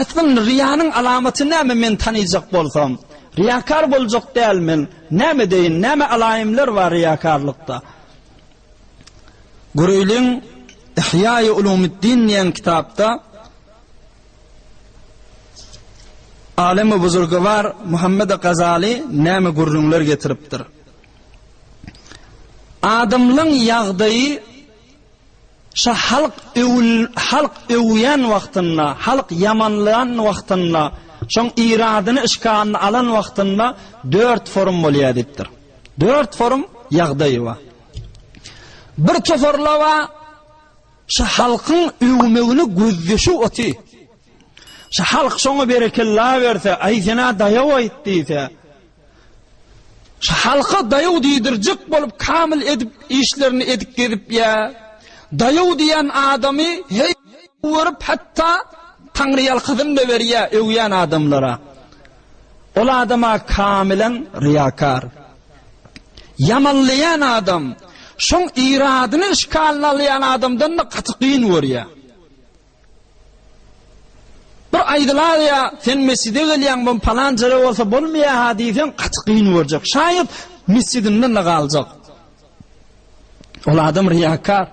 Aslynda ryýanyň alamaty näme men tanaýjak bolsam, ryýakar boljak däl men, näme edeýin, näme alaýymlar bar ryýakarlykda. Göreýliň Ihýaýy Ulumyddin diýen kitapda Alemi Buzurgywar Muhammedi Gazaly näme gürrüňler getiripdir. Adamlaň ýagdaýy Şa halk halk öwýän wagtynda, halk ýamanlan wagtynda, şoň yradyny yşkanyny alan wagtynda dört forum bolýar diýipdir. Dört forum ýagdaýy bar. Bir toparla bar, şa halkyň öwmegini gözdeşi oty. Şa halk şoňa berekella berse, aý sen-ä daýaw aýt diýse, Şu halka daýaw diýdirjek bolup kamyl edip işlerini edip gezip ýa. Daýaw diýen adamy heý görüp hatda taňryýalkasyn da berýä öwýän adamlara. Ol adama kamylan ryýakar. Ýamanlaýan adam şoň yradyny işgalyna alýan adamdan da gaty gyn görýä. Bir aýdylaýýa, sen mesjide gelýäň, bu palan jere bolsa bolmaýa-ha diýseň, gaty kyn görjek. Şaýat, mesjidinden-de galjak. Ol adam ryýakar.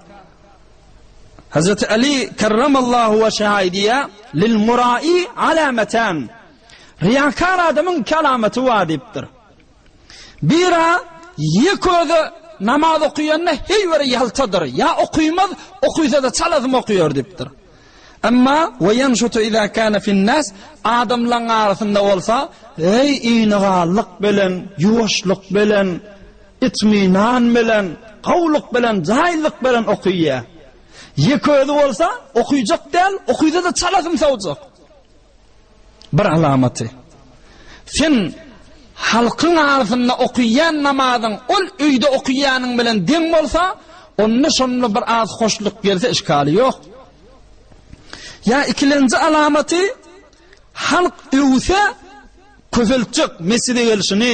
Hazreti Aly kerremallahu weşehu aýdýar, Lil muraý alamatan. Ryýakar adamyň iki alamaty bar diýipdir. Bira ýek özi namaz okaýanda heý bir ýaltadyr, ýa okymaz, okysa-da çalasym okaýar diýipdir. Emma we ýanşutu iza kana fin-nas adamlaň arasynda bolsa heý inigallyk bilen, ýuwaşlyk bilen, itminan bilen, gowulyk bilen, jaýyllyk bilen okaýar. Ýek özi bolsa okyjak däl, okysa-da çalasym sowjak. Bir alamaty, sen halkyň arasynda okyýan namazyň ol öýde okyýanyň bilen deň bolsa, onda şonda bir az hoşluk gelse işgali ýok. Ýa ikilenji alamaty, halk öwse köpeltjek mesjide gelşini,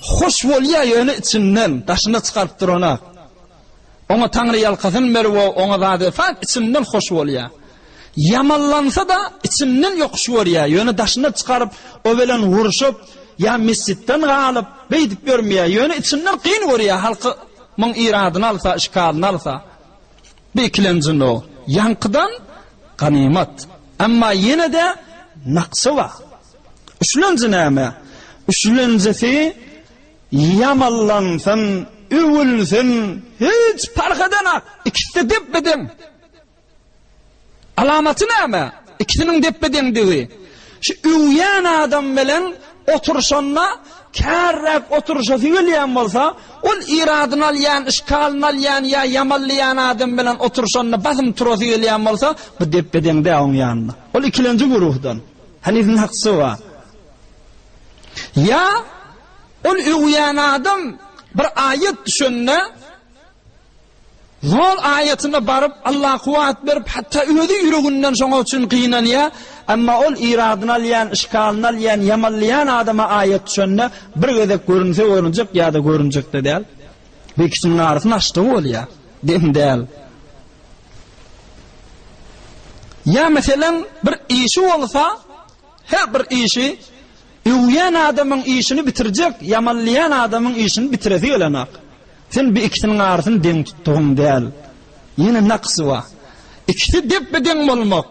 Hoş bolýa ýöne içimden daşyna çykaryp duranok. Oňa taňryýalkasyn berip o oňa zady fak içimden hoş bolýa. Ýamanlansada içimden ýokuş görýä ýöne daşyna çykaryp o bilen urşup ýa mesjitden galyp beýdip ýörmýä ýöne içimden kyn görýä halky myň iradyny alsa şikalyny alsa bir ikilenjinok ýaňkydan ganymat emma ýenede naksy bar. Üçlenji näme? Üçlenjisi ýamanlansyn, öwülsin, hiç parh edenak, ikisi-de depbe-deň. Alamaty näme? Ikisiniň depbe-deňdigi. Şu öwýän adam bilen oturyşanda kärräk oturyşasy gelýän bolsa, ol iradyny alýan, işgalyny alýan ýa ýamanlaýan adam bilen oturyşanda basym turasy gelýän bolsa, bu depbe-deň däl oň ýanynda. Ol ikilenji guruhdan. Heniziň haksy bar. Ýa ol öwýän adam bir aýat düşende zol aýatyna baryp Alla kuwwat berip hatda özi ýüreginden şoňa üçin gynanýa, emma ol iradyny alýan, yşkalyny alýan, ýamanlaýan adama aýat düşende bir gezek görünse görünjek ýa-da görünjekde däl. Bu ikisiniň arasyny açsa bolýa. Geň däl. Ýa meselem bir işi bolsa, her bir işi öwýän adamyň işini bitirjek, ýamanlaýan adamyň işini bitiresi gelenok. Sen bu ikisiniň arasyny deň tutdugyň däl. Ýene naksy bar. Ikisi depbe-deň bolmak.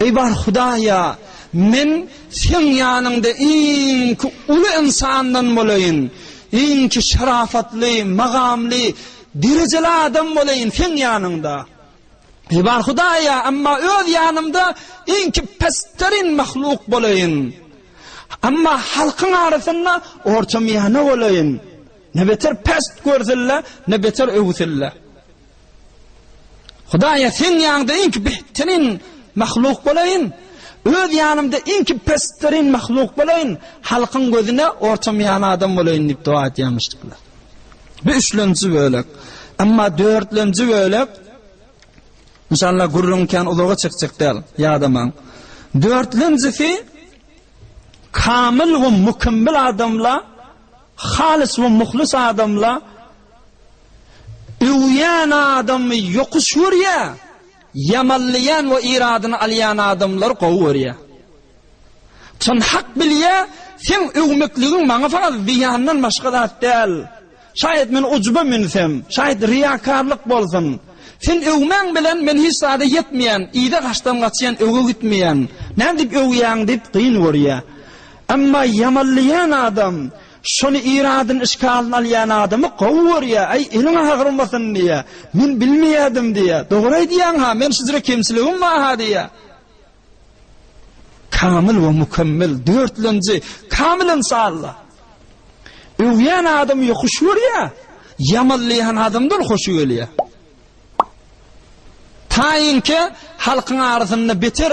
Eý bar Hudaýa, men Seň ýanyňda iňki uly ynsandan bolaýyn, iňki şarafatly, magamly, derejeli adam bolaýyn Seň ýanyňda. Eý bar Hudaýa, emma öz ýanymda iňki pesterin mahluk bolaýyn. Emma halkyň arasynda orta miýana bolaýyn. Ne beter pest görsilde, ne beter öwüsilde. Hudaýa seň ýanyňda iňki behterin mahluk bolaýyn, öz ýanymda iňki pesterin mahluk bolaýyn, halkyň gözüne ortamyýan adam bolaýyn diýip doga etýärmişdikler. Bu üçlenji bölek. Emma dörtlenji bölek Inşallah gürrüň kän uzaga çekjek däl, ýadamaň. Dörtlenjisi kamil we mükemmel adamla Halys we muhlys adamla öwýän adamy ýokuş görýä, ýamanlaýan we yradyny alýan adamlary gowy görýä. Çyn hak bilýä, seň öwmekligiň maňa fakat zyýandan başga zat däl. Şaýat men ujuba münsem, şaýat riýakarlyk bolsun. Sen öwmäň bilen men hiç zada ýetmeýän, yza gaçdan gaçýan, öňe gitmeýän. Näme dip öwýäň dip gyn görýä. Emma ýamanlaýan adam şony Irodyň işgalyny alýan adamy gowy görýär, Aý, eliň agyrmasyn diýýär. Men bilmeýärdim diýýär. Dogry aýdýaň-ha, men şujra kemçiligim bar-ha diýýär. Kamyl we mükemmel, dörtlenji, kamyl ynsanlar. Öwýän adamy ýokuş görýär, ýamanlaýan adamdan hoşy gelýär. Taýynki halkyň arasynda beter